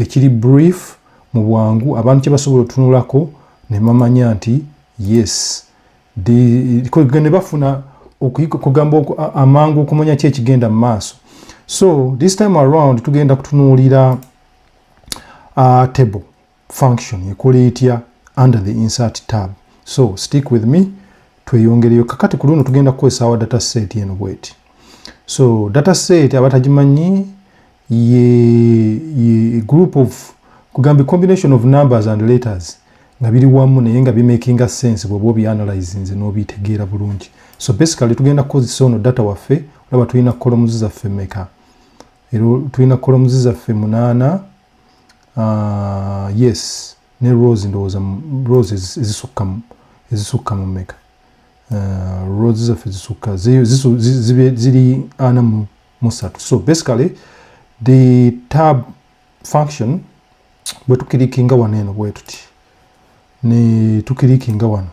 ekiri brief mu bwangu abantu kye basobola otunulako ne mamanya nti yes ne bafuna okugamba amangu okumanya ki ekigenda mu maaso so this time around tugenda kutunuulira uh, table function ekola etya under the insert tab so stick with me tweyongereyo kakati ku luno tugenda kukozesa awa data set eno bweti so data set abatagimanyi ye, ye group of kugambye combination of numbers and letters nga biri wamu naye nga bimakinga sense bwoba obianalyzinze n'obitegeera bulungi so basically tugenda kukozesa ono data waffe olaba tulina kolomuzi zaffe meka era tulina kolomuzi zaffe munaana uh, yes ne rose ndowooza rose ezisukka ezisukka mu meka uh, rose zaffe zisukka ziri ana mu musatu so basically the tab function bwe tukirikinga wano eno bwe tuti ne tukirikinga wano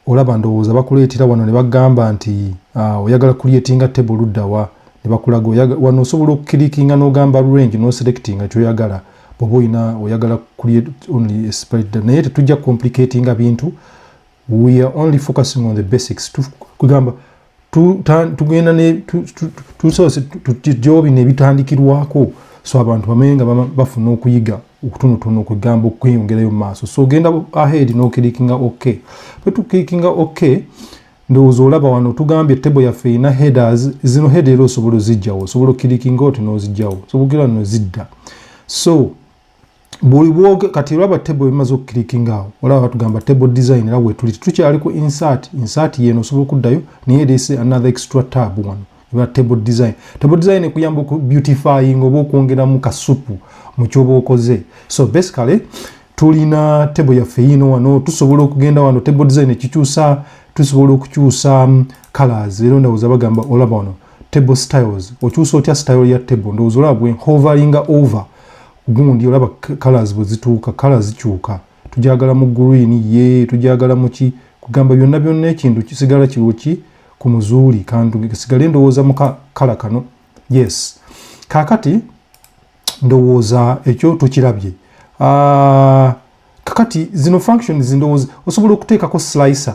olaba ndowooza bakuleetera wano ne bagamba nti ah, oyagala kulietinga table luddawa ne bakulaga wano osobola okukirikinga n'ogamba range n'oselectinga kyoyagala bwoba olina oyagala create only spread naye tetujja complicatinga bintu we are only focusing on the basics kugamba tugenda tusoose tujobi nebitandikirwako so abantu bamanye nga bafuna okuyiga okutonotono kwegamba okweyongerayo mumaaso so ogenda ahead nokirikinga ok bwetukirikinga ok ndowooza olaba wano tugambye table yaffe erina headers zino head era osobola ozijjawo osobola okirikinga oti nozijjawo sobogira nozidda so buli bwoge kati olaba table bimaze okukilikinga awo olaba batugamba table design era wetuli tukyali ku insert insert yeno osobola okuddayo naye this another extra tab wano eba table design table design ekuyamba oku beautifying oba okwongeramu kasupu mu kyoba okoze so basically tulina table yaffe yino wano tusobola okugenda wano table design ekikyusa tusobola okukyusa mm, colors era ndawooza bagamba olaba wano table styles okyusa otya style ya table ndowooza olaba bwe hoveringa over gundi olaba colors bwe zituuka color zikyuka tujagala mu green ye tujagala muki kugamba byonna byonna ekintu kisigala kiriwo ki ku muzuuli kantu sigale ndowooza mu kala kano yes kakati ndowooza ekyo tukirabye ah, kakati zino functions ndowooza osobola okuteekako slicer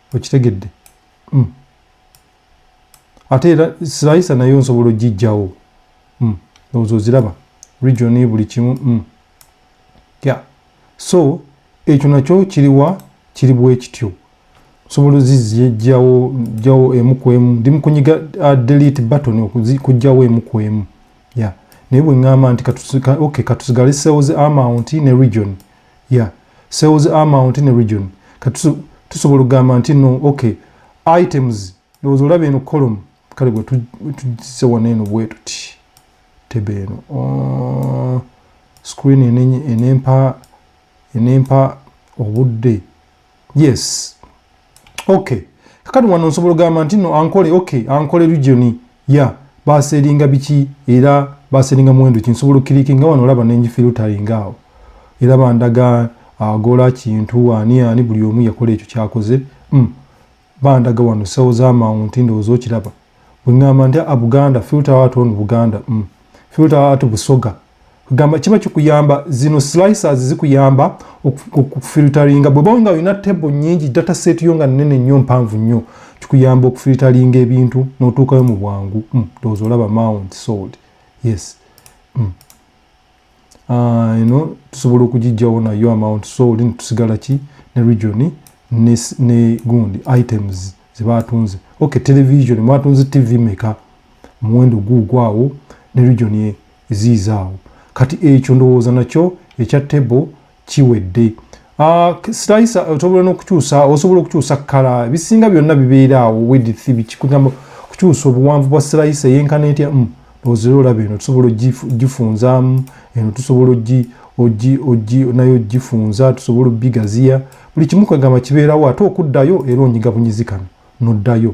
okitegedde mm. ate era silayisa nayo nsobola ogijjawo mm. ndowooza oziraba region buli kimu mm. ya yeah. so ekyo nakyo kiriwa kiri bwekityo nsobola ozizijjawo jjawo emu ku emu ndi mukunyiga uh, delete button okujjawo emu ku emu ya yeah. naye bwe ŋŋamba nti okay, katusigale cells amount ne region ya sales amount ne region kati tusobola okugamba nti no okay items ndowooza olaba eno column kale gwe tujise wano eno bwetuti tebe eno oh, screen enempa enempa obudde yes okay kakati wano nsobola ogamba nti no ankole okay ankole region ya yeah. baseringa biki era baseringa muwendo kinsobola okiriki nga wano olaba nenji filtering awo era bandaga agola ah, kintu ani ani buli omu yakola ekyo kyakoze mm. bandaga wano sewo zamawunti ndowooza okiraba bwengamba nti a buganda filter out on buganda mm. filter out busoga gamba kiba kikuyamba zino slicers zikuyamba okufilteringa bweba nga olina table nyingi data set yo nga nene nnyo mpanvu nnyo kikuyamba okufilteringa ebintu notuukayo mu bwangu mm. doza olaba mount sold yes mm. eno ah, tusobola okugijjawo nayo amount so oli netusigala ki ne region ne gundi items zebatunze ok television mwatunze tv meka muwendo guugwaawo ne region eziizaawo kati ekyo ndowooza nakyo ekya table kiwedde ah, sitayisa osobola nokukyusa osobola okukyusa kala ebisinga byonna bibeera awo wedith bikikugamba okukyusa obuwanvu bwa sirayisa eyenkana etya mm, ozira olaba eno tusobola ogifunzamu eno tusobola naye ogifunza tusobola obigaziya buli kimu kwegamba kibeerawo ate okuddayo era onyiga bunyizi kano noddayo